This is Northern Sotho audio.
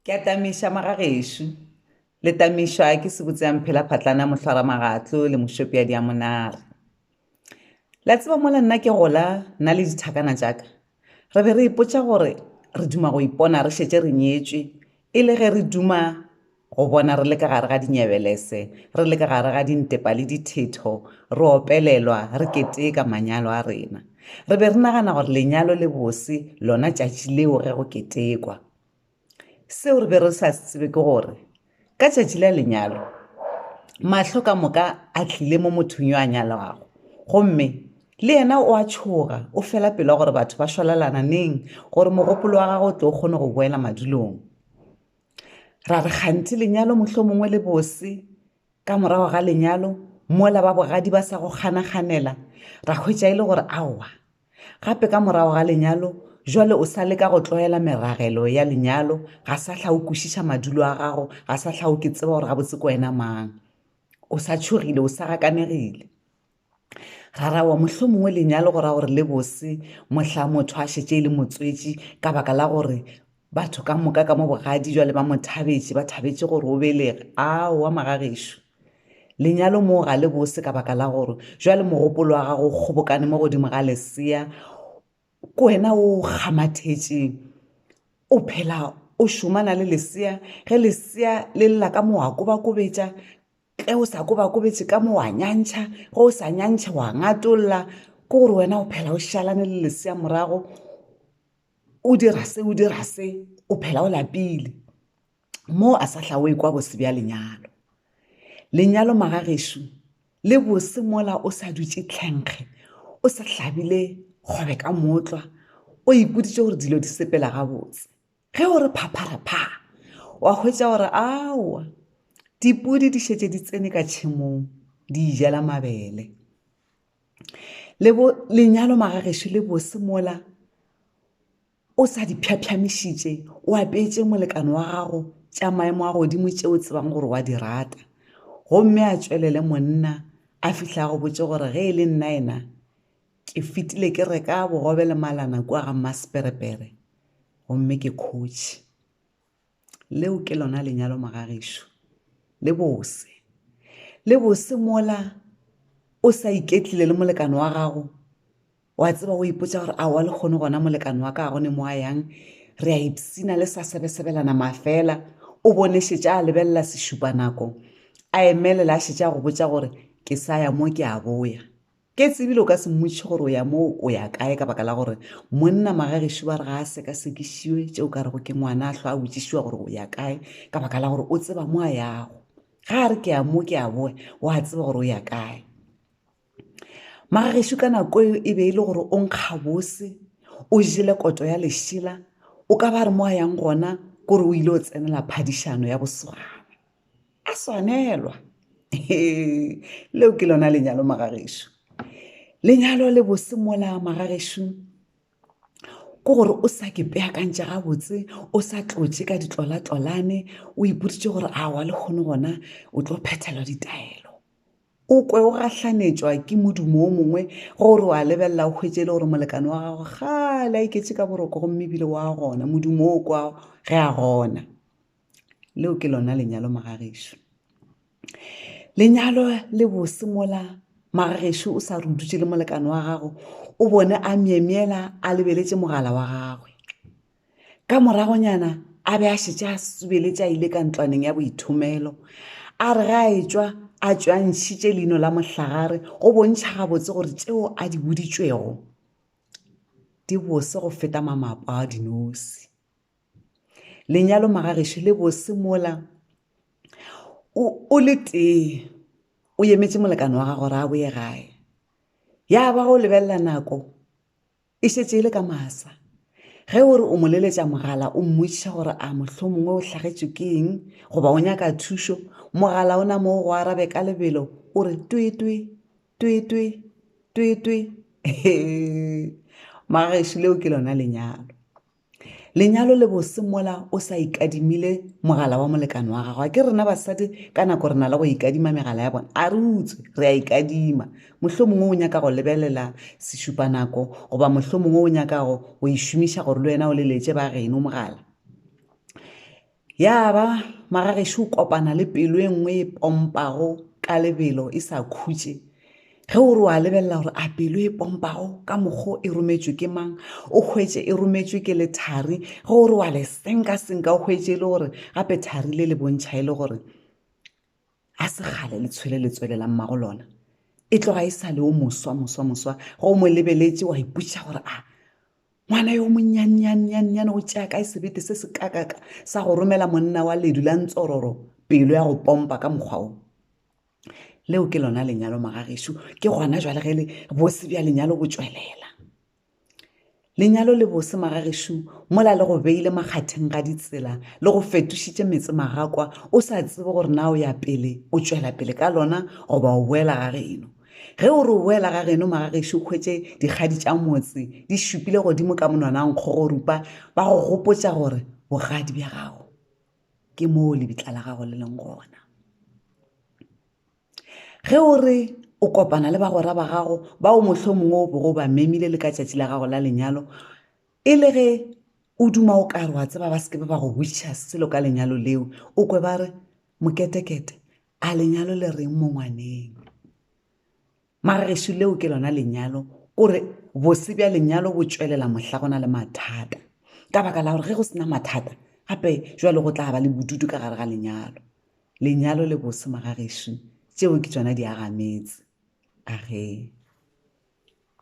Ke a tamiša magagešo. Le tamišwa ke sebotseamphela-phatlana mohlwaramagatlo le mošopeadi a monare. La tseba mola nna ke gola nna le dithakana tša ka re be re ipotša gore re duma go ipona re šetše re nyetšwe e le ge re duma go bona re le ka gare ga dinyebelese, re le ka gare ga dintepa le dithetho, re opelelwa, re keteka manyalo a rena. Re be re nagana gore lenyalo le bose lona tšatši leo ge go ketekwa. Seo re be re sa se tsebe ke gore ka tšatši la lenyalo mahlo ka moka a tlile mo mothong yo a nyalwago gomme le yena o a tšhoga o fela pelo gore batho ba šwalalana neng gore mogopolo wa gagwe o tlo kgone go boela madulong. Ra re kganthe lenyalo mohlomongwe le bose ka morago ga lenyalo mola ba bogadi ba sa go kganaganela ra hwetša e le gore aowa gape ka morago ga lenyalo jwale o sa leka go tlwaela meragelo ya lenyalo ga sa hla o kwešiša madulo a gago ga sa hla o ke tseba gore gabotse ke wena mang o sa tšhogile o sa gakanegile Rarawa, Mohlomongwe lenyalo go ra gore le bose mohla motho a šetše e le motswetši ka baka la gore batho ka moka ka mo bogadi jwale ba mo thabetše, ba thabetše gore o belege. Aowa magagešo, lenyalo moo ga le bose ka baka la gore jwale mogopolo wa gago o kgobokane mo godimo ga lesea, ke wena o kgamathetšeng, o phela o šomana le lesea, ge lesea le lla ka mo wa kobakobetša, tle o sa kobakobetše ka mo wa nyantšha ge o sa nyantšhe wa ngatolla ke gore wena o phela o šalane le lesea morago o dira se o dira se o phela o lapile moo a sa hlaoe kwa bose bja lenyalo lenyalo magagešu le bose mola o sa dutše tlhenkge o sa hlabile kgobe ka motlwa o ipoditše gore dilo di sepela gabotse ge o re phapharapha wa hwetša gore aowa dipodi di šetse di tsene ka tšhemong di ijela mabele le bo lenyalo magagešo le bose mola o sa di phyaphyamošitše o apeetse molekane wa gago tša maemo a godimo tše o tsebang gore wa di rata gomme a tšwelele monna a fihla go botse gore ge e le nna ena Ke fetile ke reka bogobe le malana kua ga Mmasperepere gomme ke khotše. Leo ke lona lenyalo magagešo. Le bose. Le bose mola o sa iketlile le molekane wa gago wa tseba o ipotsa gore a wa le kgone gona molekane wa ka a gone mo a yang re a ipsina le sa sebesebelana mafela o bone šetša a lebelela sešupa nako a emelela a šetša go botsa gore ke sa ya mo ke a boya Ke tsebile o ka se mmotšiše gore o ya moo o ya kae ka baka la gore monna magagešo ba re ga a sekasekišiwe tšeo ka rego ke ngwana a hlwa a botšišiwa gore o ya kae ka baka la gore o tseba mo a yago ga a re ke ya mo ke a boe o a tseba gore o ya kae magagešo ka nako eo e be e le gore o nkga bose o jele koto ya lešela o ka ba re mo a yang gona kore o ile o tsenela phadišano ya boswana a swanelwa leo ke lona lenyalo magagešo lenyalo le bosemola magagešo ke gore o sa ke peakantše gabotse o sa tlotše ka ditlolatolane o ipoditše gore a wa le kgone gona o tlo phethelwa ditaelo o kwe o gahlanetšwa ke modumo o mongwe gore wa lebelela o hwetše e le gore molekane wa gago gale a iketse ka boroko gomme ebile wa gona modumo o kwa ge a gona leo ke lona lenyalo magagešo lenyalo le bose mola magagešo o sa rudutše le molekane wa gago o bone a myemyela a lebeletše mogala wa gagwe ka moragonyana a be a šetše a subeletše a ile ka ntlwaneng ya boithomelo a re ga a etswa a tšwantšhitše leino la mohlagare go bontšha gabotse gore tšeo a di boditšwego di bose go feta mamapa a dinosi lenyalo magagešo le bose mola o le tee o emetše molekane wa gago ra a boye gae ya ba go lebelela nako e šetše e le ka masa ge o re o mo leletša mogala o mmotšiša gore a mohlho mongwe o hlagetšwe ke eng goba o nyaka thušo mogala o na mo go arabe ka lebelo o re twetwe twetwe twetwe magagešo leo ke lona lenyalo Lenyalo le bose mola o sa ikadimile mogala wa molekane wa gago. A ke rena basadi ka nako re na le go ikadima megala ya bona? A re utswe, re a ikadima. Mohlo mongwe o nyaka go lebelela sešupanako goba mohlo mongwe o nyaka go e šomiša gore le wena o leletse ba geno mogala. Ya ba magagešo o kopana le pelo e nngwe e pompago ka lebelo e sa khutše ge o re wa lebelela gore a pelo e pompago ka mokgo e rometšwe ke mang o hwetše e rometšwe ke lethari ge o re wa le senka-senka o hwetše e le gore gape thari le le bontšha e le gore a se gale le tshwele le tswelelang mago lona e tloga e sa le o moswa moswa moswa ge o mo lebeletše wa ipotša gore a ngwana yo monnyannyannyannyane o tšea kae sebete se se kakaka sa go romela monna wa ledu la ntsororo pelo ya go pompa ka mokgwa o leo ke lona lenyalo magagešo ke gona jwale ge le bose bja lenyalo bo tswelela lenyalo le bose magagešo mola le go beile makgatheng ga ditsela le go fetošitše metse magakwa o sa tsebe gore na o ya pele o tšwela pele ka lona goba o boela ga geno Ge o re o boela ga geno magagešo o hwetše dikgadi tša motse di šupile godimo ka monwanang kgogorupa ba go gopotša gore bogadi bja gago ke moo lebitla la gago le leng gona. Ge o re o kopana le bagwera ba gago bao mohlo mongwe o bogo ba memile le ka tšatši la gago la lenyalo e le ge o duma o kare wa tseba ba seke ba go wiša selo ka lenyalo leo o kwe ba re moketekete A lenyalo le reng mo ngwaneng? Mara gešo leo ke lona lenyalo. Ko re bose bja lenyalo bo tšwelela mohla go na le mathata. Ka baka la gore ge go sena mathata, gape jwale go tla ba le bodutu ka gare ga lenyalo. Lenyalo le bose magagešo. Tšeo ke tšona di aga metse. A re.